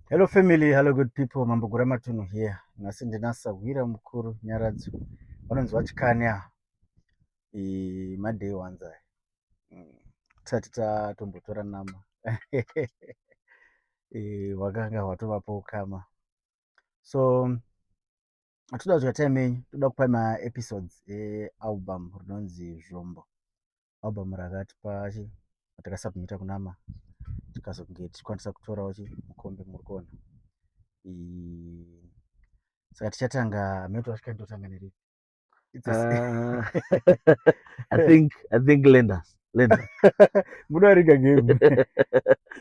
Hello family, hello good people, Mambo Guramatunhu here. Nhasi ndina sahwira mukuru Nyaradzo. Vanonzi vachikani ava. E, maday ones aya. Mm. Tisati tatombotora nama. e, wakanga hwatovapo ukama. So toda kudya time yenyu, toda kupa maepisodes ealbum rinonzi Zvombo. album rakatipa chi ratakasubmita kunama tikazonge tichikwanisa kutorawo chi mukombe muri kuona saka tichatanga mhete wasvika ndotanga neripi Uh, I think I think lend us lend us. Munoriga game.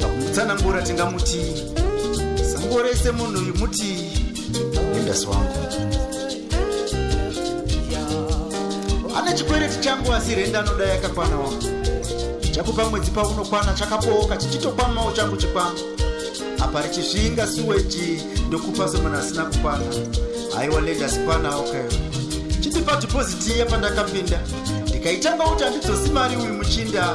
pakutsanangura tingamuti zango rese munhu uyu muti endasi wangu ane chikwereti changu asi renda anoda yakakwana wangu chakupa mwedzi paunokwana chakabooka chichitokwamawo changu chikwama apa richisvinga suweji ndokupa somunhu asina kukwana haiwa lenda sikwana okayo okay. chitipa dhipoziti iya pandakapinda ndikaitanga kuti handidzosima ari uyu muchinda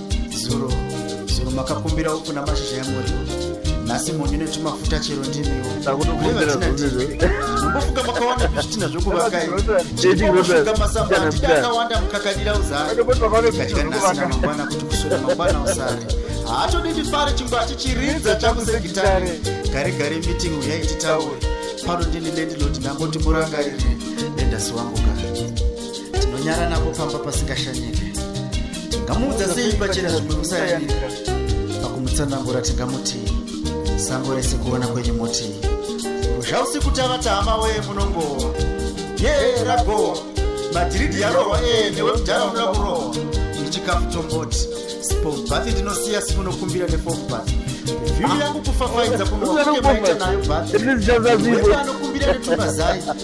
zuro zuro makakumbira uku namashizha yamuriwo nhasi munyu netumafuta chero ndimiwoombofuka makawanda zvitina zvokuvakaiofuka masamba atidi akawanda mukakadira uzaikadya nhasi namangwana kuti kuswera mangwana usare haatodi ndifare chimbo achichiridza chakusegitare gare gare meeting uyai titaure pano ndini lendilodi ndangoti murangaire lendasi wangu gare tinonyara napo pamba pasingashanyike tingamuudza sei pachena zvimwe musayandika pakumutsanangura tingamutii sango rese kuona kwenyu motii zvausiku tava tama wee munongowa yee ragowa madhiridhi yarohwa ee newe mudhara unoda kurohwa ndichikafu tomboti spombathi ndinosiya simunokumbira nefombathi vhiri yangu kufafaidza kunoaita nayo bathi anokumbira netumazai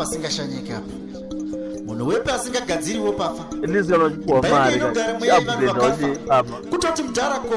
pasingashanyike apa munhu wepi asingagadziriwo pafa kutoti mudhara ko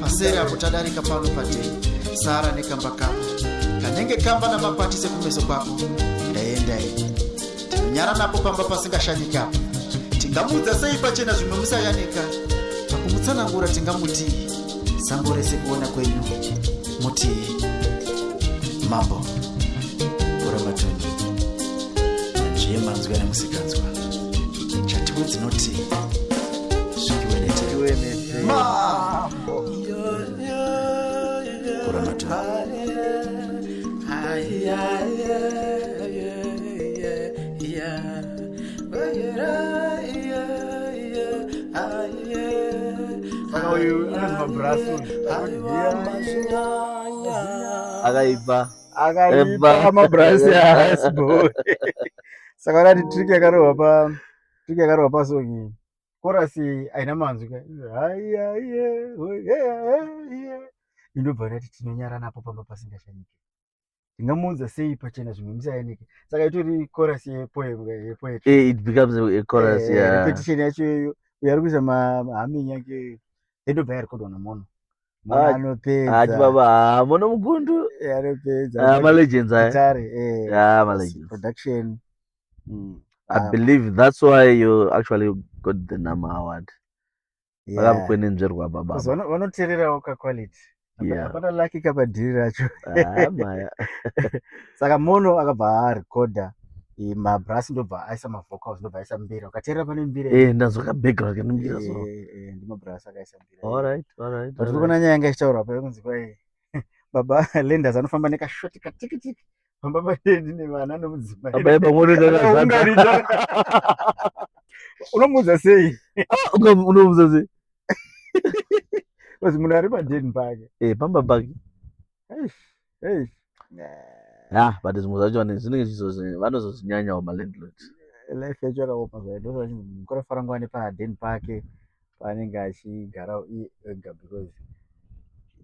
masere apo tadarika pano patei sara nekamba kako kanenge kamba namakwatise kumeso kwako ndaendai tinonyara napo pamba pasingashanyikapo tingamuudza sei pachena zvimwe musayanika pakumutsanangura tingamutii sango rese kuona kwenyu mutii mambo kuramatoni njiye manzwi ane musikanzwa chatiwe dzinoti zvikiweneteiwene mambo kuranata saka uyu anonzwa brasu akaipa akaipa mabrasi aasbo saka urati trick yakarohwa pa trick yakarohwa pasongi chorus haina manzwi ka indobva ndati tinonyara napo pamba pasingashanyike ndingamuudza sei pachena zvimwe musayanike saka itori chorus yepoetrepetition yacho iyoyo uyo ari kuisa mahaming yake endobva yarekodwa namono anopezaati baba mono mugundu anopezamalegen mm. I ah. believe that's why you actually got the number award vakakwenenzverwa yeah. baba vanotererawo kaquality hapana yeah. laki kapadhiri racho ah, saka mono akabva arekodha mabrass ndobva aisa mavocals ndobva aisa mbira ukateerera pane mbira eh, ndazvaka background kana mbira so eh, eh, ndimabrass akaisa mbira all right all right but kuona nyaya yanga ichitaurwa pa kunzi kwai baba lenders anofamba nekashoti katikitiki pamba pake ndine vana nomudzimai Baba eba mwoto kakazadza. Ungaridza. unomuudza sei Unga- Unomuudza sei? bcause munhu ari padeni pake Eh, pamba pake. Eish, eish. Ah, but zvimwe zvacho vane- zvinenge zvizozi- vanozozvinyanyawo malandlord. life yacho yakaoma zvayo ndozvachinzi munhu kurafara nguva nepadeni pake paanenge achigara iye ega because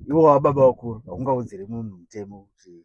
iwo wababa vakuru haungaudzire munhu mutemo kuti